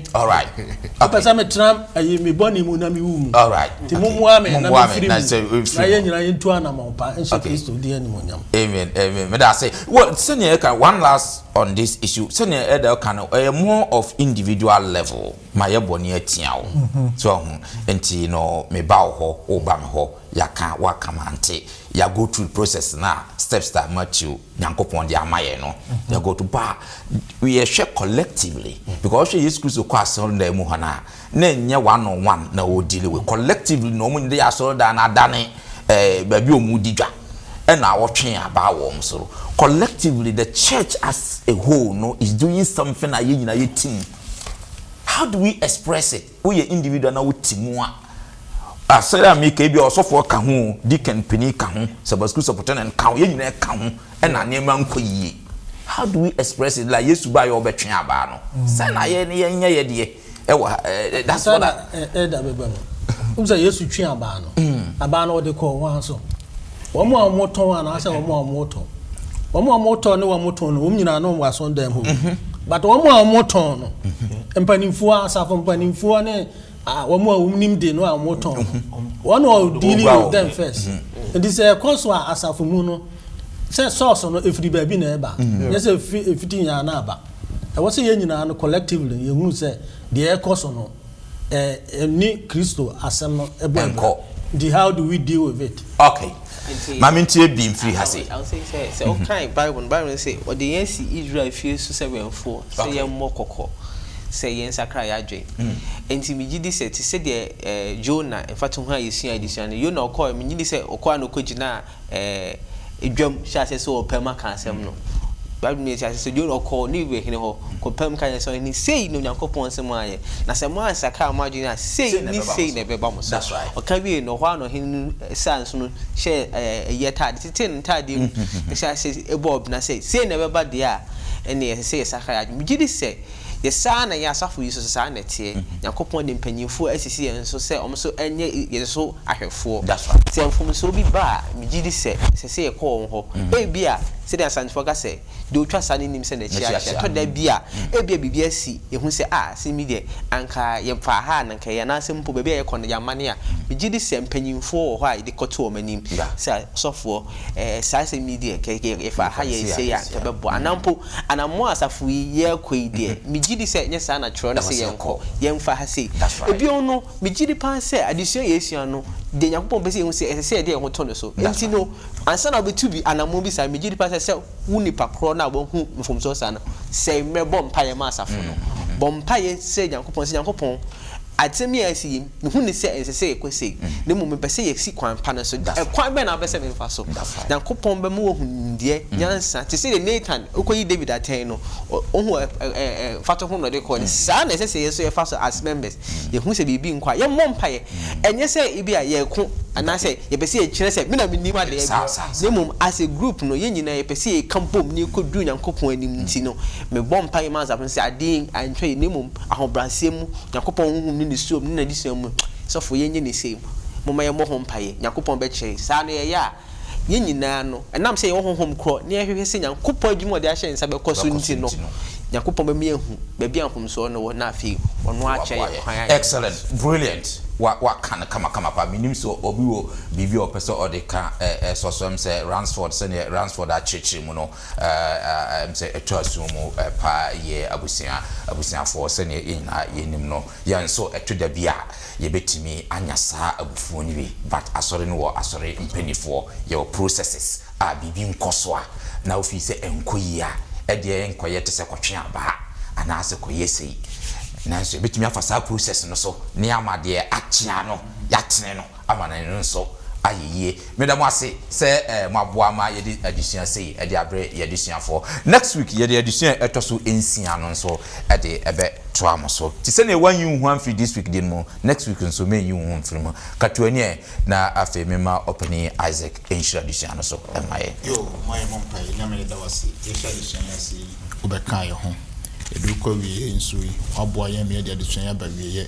apɛ sɛ metena ayi me bɔne mu na mewu mu nti mommoa me na mefiri mu na yɛ nyina yɛntu anamɔn pa nhyɛ kristo din animonyam amen amen meda ase sɛnea ɛka one last on this issue sɛnea ɛda ɛka no ɛyɛ more of individual level ma yɛ bɔne atia wo mhm. so ho nti no meba wo hɔ woba me hɔ yɛaka woaka mante yɛago through process na steps that matthew Nyankopɔn de ama yɛn no. Yɛ go to ba a, yɛhwɛ collectively. Because ɔhwɛ Yesu Kristo kɔ asɔredan mu hɔ no a, na ɛnyɛ one on one na ɔwɔ deal with. Collectively na wɔn de asɔredan no adane eh, baabi a wɔn di dwa. Ɛna awɔtwe aba wɔn so. Collectively, the church as a whole no is doing something a yɛn nyinaa yɛte mu. How do we express it? Woyɛ individual na wote mu a, asɛre a meka yi, ebia ɔsɔfoɔ ka ho o, deacon panin ka ho, Sabbath school superintendent ka ho, yɛn nyinaa ka ho na nneɛma nkɔ yie. How do we express it like Yesu baeɛ a ɔbɛtwe abaa no? Sɛn na yɛn ne yɛnyɛ yɛ deɛ ɛwɔ ha. That's what I. Ɛda bɛba mu. Wohu sɛ Yesu twe abaa no, abaa no ɔde kɔɔ hwan so? Wɔn a wɔtɔn anaasɛ wɔn a wɔtɔ. Wɔn a wɔtɔ ne wɔn tɔn no, wɔn nyinaa no wɔ asɔndan mu. Mhm. But wɔn a wɔtɔn no, mhm. mpanimfoɔ, asafo mpanimfoɔ ne ah, wɔn a wɔnim de no a wɔtɔn no, mhm. wɔn a dealing with them first. Nti sɛ ɛkɔ so a asafo mu no, sɛ source no efiri baabi na ɛba, nyɛ sɛ efiti yɛn ana aba. Ɛwɔ sɛ yɛn nyinaa no collectively yɛn hu sɛ deɛ ɛkɔ so no. Eh, ni Kristo asɛm no ɛbɔ abira. Ɛnkɔ. Nti how do we deal with it? Okay. Nti. Ma me ntie bi mfiri ha sei. I will say sɛ, sɛ wo kan Bible no, Bible no se, Ɔde yɛn asi Israel fie so sɛ wɛmfoɔ, sɛ Okay. yɛmmɔ kɔkɔ, sɛ yɛn nsakra yɛn adwene. Nti me gye di sɛ, te sɛ deɛ eh, Jonah mfatoho a yɛsuae desua no, Yona ɔkɔɔe, me gye di sɛ ɔkɔɔ a na ɔkɔgyinaa ɛɛ, dwam hyɛɛ aseɛ sɛ ɔrepɛ mu aka asɛm no. Bible no ma yɛte aseɛ sɛ Jona ɔkɔɔ Niniwe hene hɔ kɔpaa mu ka kyerɛɛ no sɛ, Ɔhene, sei na Onyankopɔn se moayɛ, na sɛ moansakra mo adwene a, sei ne sei na ɛbɛba mo so. Ɔka wiee no, ɛhɔ ara na ɔhene no saa nso no hyɛɛ ɛɛ, ayi atadeɛ, tetee ne ntadeɛ mu, hyɛɛ aseɛ bɔɔ ɔbena sɛ, Sei na ɛbɛba deɛ a, ɛnneɛ ɛsɛ sɛ yɛsakra yɛn adwene. Megye di sɛ. Yɛ saa na yɛn asafo yi nso, sɛ saa na ɛteɛ, Nyankopɔn de mpanyimfoɔ asisi yɛn so sɛ wɔn nso nyɛ yɛn so ahwɛfoɔ. Sɛ mfomsoɔ bi ba a, megye di sɛ ɛsɛ sɛ yɛkɔ wɔn hɔ. Ebia, sɛdeɛ Asantefoɔ ka sɛ, deɛ ɔtwa sa no nim sɛ n'akyi ahye. Ɛtɔ da bi a, ebia biribi asi, yɛhu sɛ, Ah, sei me deɛ, anka yɛmfaa ha a na anka ɛyɛ, anaasɛ mpo baabi a yɛkɔ no, yɛammane a, megye di sɛ mpanyimfoɔ wɔ hɔ a yɛde kɔto wɔn anim sɛ, Ɔsɔfoɔ, saa asɛm yi deɛ, anka yɛfaa ha yɛɛ sei a, anka ɛbɛboa. Anaa mpo, Anammɔn a asafo yi yɛrekɔ yi deɛ, megye di sɛ ɛnyɛ saa na twerɛ no se yɛnkɔ. Yɛmfa ha sei. Bio no, megye di paa sɛ adesua a yɛresua no, deɛ Nyankopɔn pɛ sɛ yɛhu sɛ ɛsɛ sɛ yɛde yɛn ho to no so. Enti no, ansa na wobɛtu bi anammɔn bi saa, megye di paa sɛ ɛsɛ sɛ wo nipa korɔ no a wahu mfomsoɔ saa no, sɛe mmerɛ bɔ mpaeɛ ma asafo no. Bɔ mpaeɛ srɛ Nyankopɔn sɛ, Nyankopɔn, asɛm yi a asi yi, Me hu no sɛ ɛnsɛ sɛ yɛkɔ sei, na mmom mepɛ sɛ yɛsi kwan pa no so. Ɛkwan bɛn na wopɛ sɛ memfa so? Nyankopɔn bɛma woahu nimdeɛ, nyansa, te sɛ deɛ Natan kɔyi David atɛn no, wohu mfatoho na ɔde kɔɔ no. Saa ara na ɛsɛ sɛ yɛn nso yɛfa so as members. Yɛhu sɛ biribi nkɔ a, yɛmmɔ mpaeɛ. Ɛnyɛ sɛ ebia yɛreko anaasɛ yɛpɛ sɛ yɛkyerɛ sɛ me na menim adeɛ biara, na mmom as a group no, yɛn nyinaa yɛpɛ sɛ yɛka bom na yɛkɔduru Nyankopɔn anim. Nti no, mebɔ mpaeɛ ma asafo no sɛ adeɛ antwa yɛn, na mmom Ahobrɛaseɛ mu, Nyankopɔn honhom ne ne suom ne n'adesua mu, sɔfo yɛn nyɛ ne sei mu, momma yɛmmɔ ho mpaeɛ, Nyankopɔn bɛkyerɛ, saa na yɛyɛ a, yɛn nyinaa no, ɛnam sɛ yɛwɔ honhom korɔ na yɛhwehwɛ sɛ Nyankopɔn adwuma a ɔde ahyɛ yɛn nsa bɛkɔ so nti no, Nyankopɔn bɛma yɛahu baabi a mfomsoɔ no wɔ na afei ɔno ara akyerɛ yɛn kwan a yɛbɛfa so. Excellent, brilliant, wa wa ka no kamakama paa, menim sɛ obi wɔ biribi a ɔpɛ sɛ ɔde ka, ɛ ɛ sɔsɔɛm sɛ Ransford, sɛdeɛ Ransford akyerɛkyerɛ mu no, Ɛɛ, sɛ ɛtɔ asom mu paa yɛ abusua, abusuafoɔ, sɛdeɛ yɛn nyinaa yɛnim no, yɛn nso ɛto da bi a yɛbɛtumi anya saa abufuo no bi. But Asɔre no wɔ Asɔre mpaninfoɔ, yɛwɔ processes a biribi nkɔ so a, na wofii sɛ ɛnkɔ yie a, ɛdeɛ nkɔyɛ te sɛ kɔtwe abaa anaa sɛ kɔyɛ sei. Nanso yɛbɛtumi afa saa process no so na yɛama deɛ akyea no, yɛatene no. ama ne nso ayɛ yie. Meda mo ase sɛ mo aboa ma yɛde adesua sei ɛde abrɛ yɛn adesuafoɔ. Next week yɛde adesua a ɛtɔ so nsia no nso ɛde ɛbɛ toa mo so. Te sɛdeɛ woanyi wo ho amfiri this week deɛ no mu, next week nso mɛnyi wo ho mfiri mu. Katua ni ɛ, na afei mema Ɔpanin Isaac nhyira adesua no so mma yɛn. Yo, mma yɛmmɔ mpaeɛ. Nyame yɛda wo ase yɛhyɛ adesua yi ase yi, wobɛkaa yɛn ho. Yɛde rekɔ awieɛ nso yi, woaboa yɛn ma yɛde adesua yi aba awieɛ.